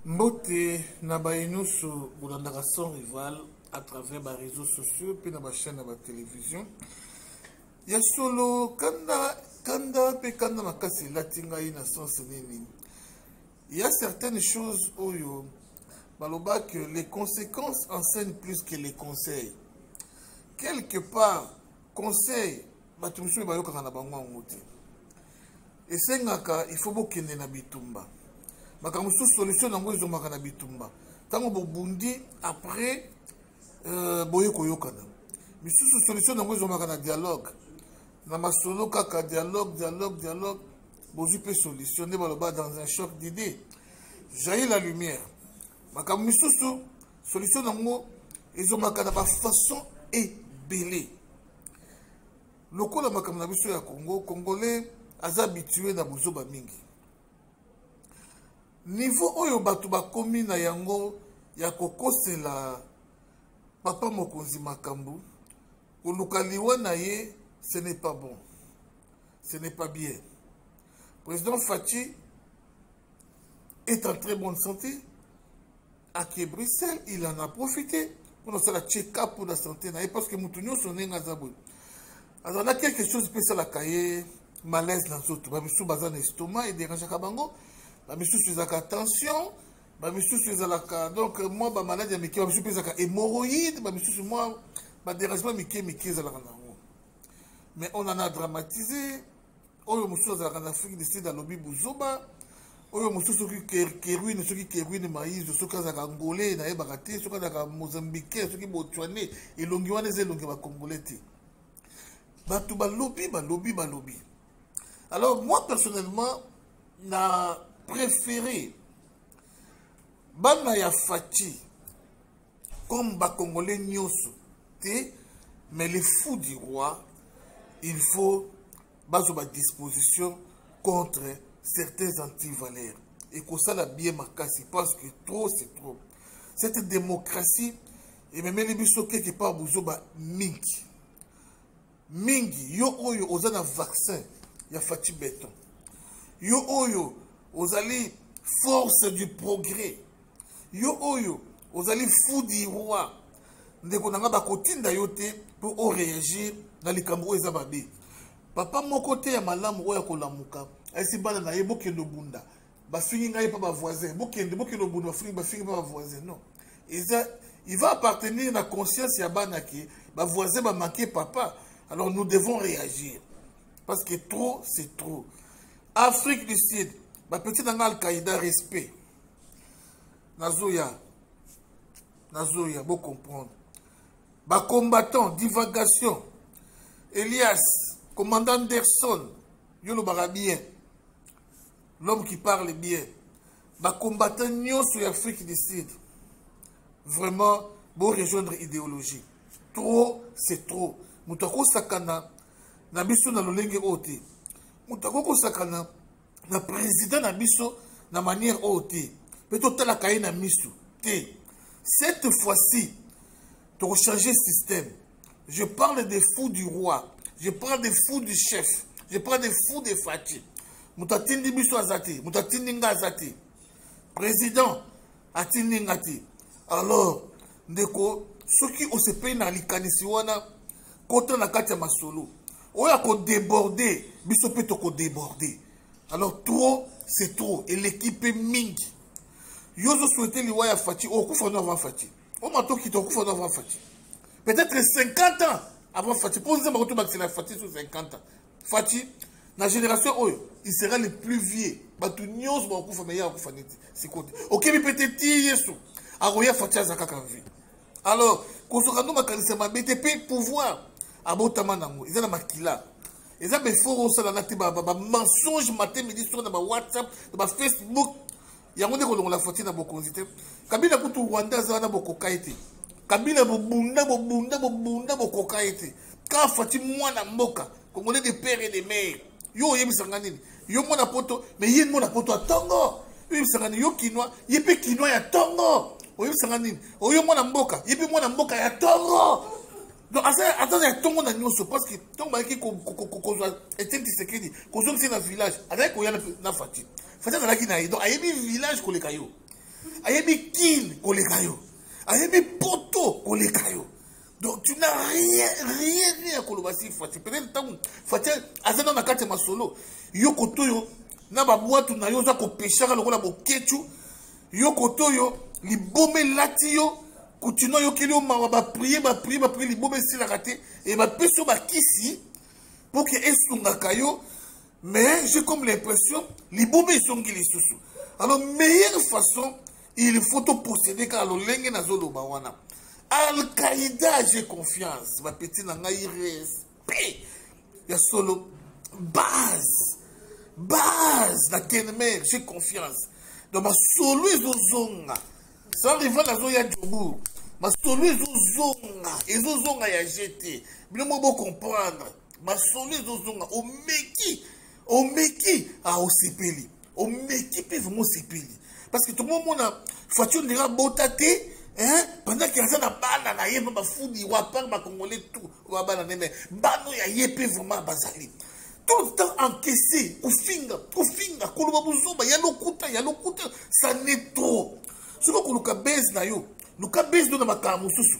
mbote na baye nyonso bolandaka sans rival à travers ba réseaux sociaux mpe na bachaîne ya batelevision ya solo kanda kanda mpe kanda makasi elati ngai na sense nini ya certaines choses oyo baloba que les conséquences enseignent plus que les conseils quelque part conseil bato mosusu bayokaka na bango yango te esengaka il faut bokende na bitumba makambo mosusu solution na yango ezongaka na bitumba ntango bobundi après euh, boye koyokana misusu solution na yango ezongaka na dialogue na masolo kaka dialogue dialogue dialogue bozwi mpe solution nde baloba dans un choc d'idée jaillit la lumière makambo misusu solution na yango ezongaka na bafaçon ebele lokola makambo na biso ya congo congolais aza habitue na bozoba mingi nivo oyo bato bakomi na yango ya kokosela papa mokonzi makambo koluka liwa na ye ce n'est pas bon ce n'est pas bien président faci est en très bonne santé ake bruxelles il en a profité mpona osala check-up mpona sante na ye parce que moto nyonso ndenge aza boye azala na quelque chose mpe esalaka ye malaise na nzoto bamisusu baza na estomac ederangeaka bango bamisusu ezalaka tension bamisusu ezalaka donc mwa bamaladi ya mike bamisusu mpe ezalaka hémoroïde bamisusu mwa badérangement mike mike ezalaka na yango mais on en a dramatisé oyo mosusu azalaka na afrique du sud alobi buzoba oyo mosusu soki keruine soki keruine maizo soki azalaka angolais nayebaka te soki azalaka mozambiquais soki botswanais elongi wana eza elongi ya bacongolais te bato balobi balobi balobi alors moi personnellement na préféré bana ya faci comme ba congolais nyoso te mais les fous du roi il faut bazo ba disposition contre certains antivaleurs et que ça la bien makasi parce que trop c'est trop cette démocratie ememeli biso quelque part bozoba mingi mingi yo oyo oza na vaccin ya faci beton yo oyo ozali force du progrès yo oyo ozali fou du roi ndeko na ngai bakotinda yo te mpo oreagir na likambo oyo eza mabe papa moko te ya malamu oyo akolamuka ayesi bana na ye bokende obunda bafingi ngai mpa bavoisin bokende bokende obunda bafingi bafingi mpa bavoisin non eza il va appartenir na conscience ya bana ke bavoisin bamanke papa alors nous devons réagir parce que trop c'est trop afrique du sud bapeti na ngai alqaïda respect nazoya nazoya bocomprendre bacombattant divagation elias commandant anderson yo olobaka bien l'homme qui parle bien bacombattant nyonso ya afrique du sud vraiment borejoindre idéologie trop c'est trop moto akosakana na biso na lolenge oyo te moto akoki kosakana na président na biso na manière oyo te mpe totalaka ye na miso te cette fois-ci tokochange système Je parle des fous du roi. Je parle des fous du chef. Je parle des fous de Fatih. Moto atindi biso aza te. Moto atindi nga aza te. Président atindi nga te. Alors, ndeko, soki osepeli na likanisi wana, kota na kati ya masolo. Oyo akodeborde, biso mpe tokodeborde. Alors, trop, c'est trop. Eleki mpe mingi. Yo ozoswete liwa ya Fatih, okufa no avant Fatih. o matoki tokufa to avant fati peut-être 50 ans avant fati mpo nzemba kutu bakisela fati sur 50 ans fati na génération oyo il sera le plus vieux bato nyonso bakokufa meye akokufa neti sikoyo te okebi mpe te ti yesu akoya fati aza kaka vie alors kosoka ndo makanisi ya mabe te mpe pouvoir abotama nango eza na makila eza befort osalaka te bamensonge matin midi soki na bawhatsapp na bafacebook yango nde kolongola foti na bokonzi te kabila kutu rwanda aza wana bokoka ye te kabila bobunda bobunda bobunda bokoka ye te kaka fati mwana mboka congolais de père et de mare yo oyebisa nga nini yo mwana poto mais ye mwana poto ya tongo oyebisa nga nini yo kinois ye mpe kinois ya tongo oyebisa nga nini oyo mwana mboka ye mpe mwana mboka ya tongo donc aza aza ya ntongo na nyonso parce que ntongo bayaki kozwa etienne tisekedi kozongisa na village azalaki koya na fati fati azalaki na ye donc ayebi village koleka yo ayebi kin koleka yo ayebi poto koleka yo donc tu n'as rien rien rien ya koloba si fati peut-être ntango fati aza nao na kati ya masolo yo koto yo na babwatu na yo oza kopeshaka lokola bokechu yo koto yo liboma elati yo kutino ayokeli yo mawa baprie baprie baprie liboma esilaka te e bapesi yo bakisi mpo ke esungaka yo mais j'ai comme l'impression liboma ezongi lisusu alors meilleure façon il faut toprocéder kaka lolenge nazoloba wana alqaïda j'ai confiance bapeti na ngai respect ya solo base base na kenmer j'ai confiance donc masolo ezozonga sa rival azoya jobour masolo ezozonga ezozonga ya jete bino moko bocomprendre masolo ezozonga omeki omeki ah, osepeli omeki mpe vraimen osepeli parce que tokomomona faci ondenge abota te pendant ke aza na bana na ye mpe bafudi wapar bacongolais tout oyo abana na ye me bana oyo ya ye mpe vraiment bazali tout le temps encaissé kofinga kofinga koloba bozoba ya lokuta ya lokuta ça ne trop soki okoluka base na yo luka base no na makambo mosusu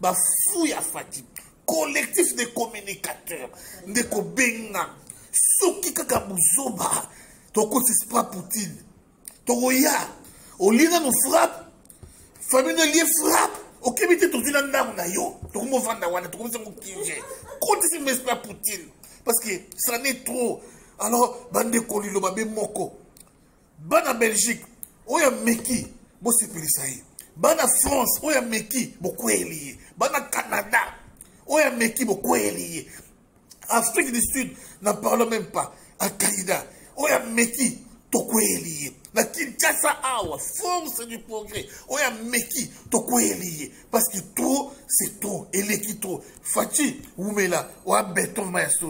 ba fou ya fati collectif de communicateur nde kobenga soki kaka buzoba tokoti spra poutine tokoya olie nano frappe famille no elie frappe okebi te tozwi na ndako na yo tokomi ovanda wana tokomi sango kinge kotisi mespra poutine parce que ça n'est trop alors bandeko liloba be moko bana belgique oyo ameki bosepelisa ye bana france oyo ameki bokweyeli ye bana canada oyo ameki bokweyeli ye afrique du sud na parle même pas akaida oyo ameki tokweyeli ye na kinshasa awa force du progrès oyo ameki tokweyeli ye parce que trop c'est trop eleki trop faci wumela oya beton ma ya solo